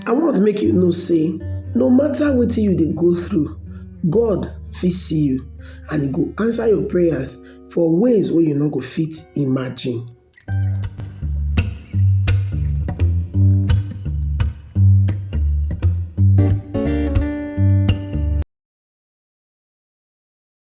I want make you know say no matter wetin you dey go through, God fit see you and e go answer your prayers for ways wey you no go fit imagine.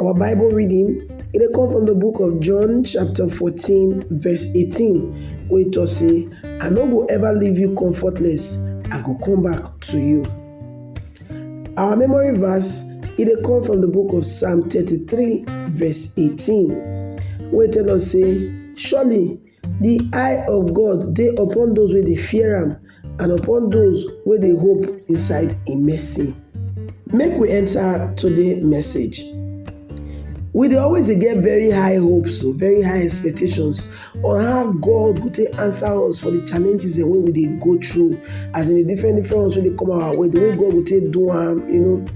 Our Bible reading e dey come from the book of John chapter 14 verse 18 wey talk say I no go ever leave you comfortless I go come back to you. Our memory verse e dey come from the book of Psalm 33 verse 18 wey tell us say surely Di eye of God dey upon dose wey dey fear am, and upon dose wey dey hope inside im mercy. Make we enter today message. We dey always dey get very high hopes o, very high expectations on how God go take answer us for di challenges dem wey we dey go through, as in di different different ones wey dey come our way, di way God go take do am, you know.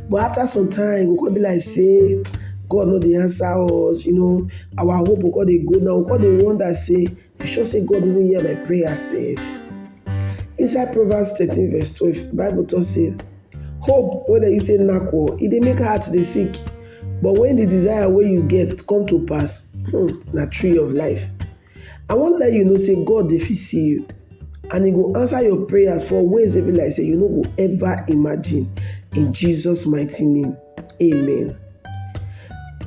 But after some time, e go come be like sey God no dey answer us, you know. our hope go come dey go down, we go come dey wonder sey you sure sey God even hear my prayer sef? Inside Proverbs thirteen verse twelve bible talk sey hope wey dem use take knack o e dey make heart dey sick but when the desire wey you get come to pass hmm, na tree of life. I wan let you know sey God dey fit see you and he go answer your prayers for ways wey be like sey you no go ever imagine in Jesus mighty name. Amen.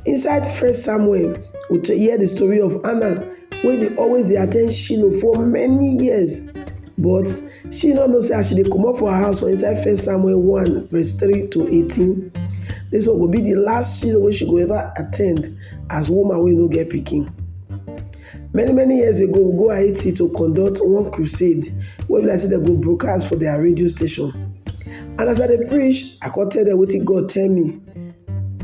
Inside First Samuel, we hear the story of Anna wey dey always dey attend Shiloh for many years but she no know say as she dey comot for her house for inside First Samuel one verse three to eighteen, this one go be the last Shiloh wey she go ever attend as woman wey no get pikin. Many many years ago we go Haiti to conduct one crusade wey be like sey dem go broadcast for their radio station and as I dey preach I come tell dem wetin God tell me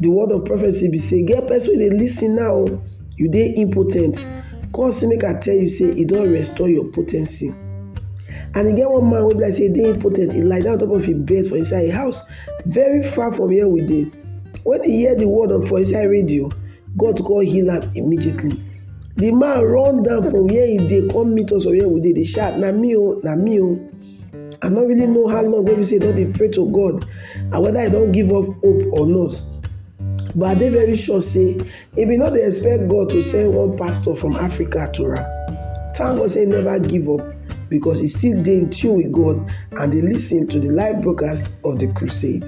the word of prophecy be sey get person wey dey lis ten now o oh. you dey impotent God say make I tell you say he don restore your potency and e get one man wey be like sey he dey impotent he lie down on top of him bed for inside him house very far from where we dey when he hear the word of for inside radio God to come heal am immediately. The man run down from where he dey come meet us for where we dey dey shout na me o oh, na me o. Oh. I no really know how long wey be say he don dey pray to God and whether he don give up hope or not. But I dey very sure say he bin no dey expect God to send one pastor from Africa to am. Thank God say he never give up because he still dey in tune with God and dey lis ten to the live broadcast of the crusade.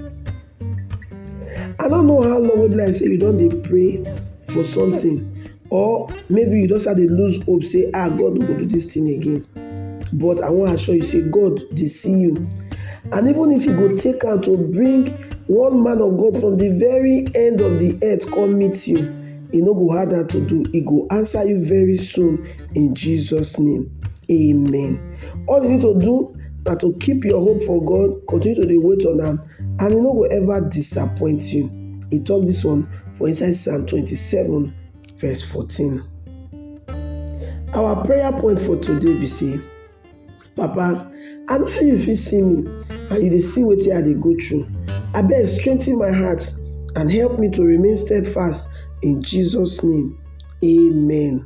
I no know how long wey be like sey you don dey pray for something or maybe you don start dey lose hope sey ah God no go do this thing again but I wan assure you sey God dey see you and even if you go take am to bring one man of God from the very end of the earth come meet you e no go hard am to do e go answer you very soon in Jesus name amen all you need to do na to keep your hope for God continue to dey wait on am And e no go ever disappoint you. E talk this one for inside Psalm 27 verse 14. Our prayer point for today be say, Papa, I no sure you fit see me and you dey see wetin I dey go through. Abeg strengthen my heart and help me to remain steadfast in Jesus name. Amen.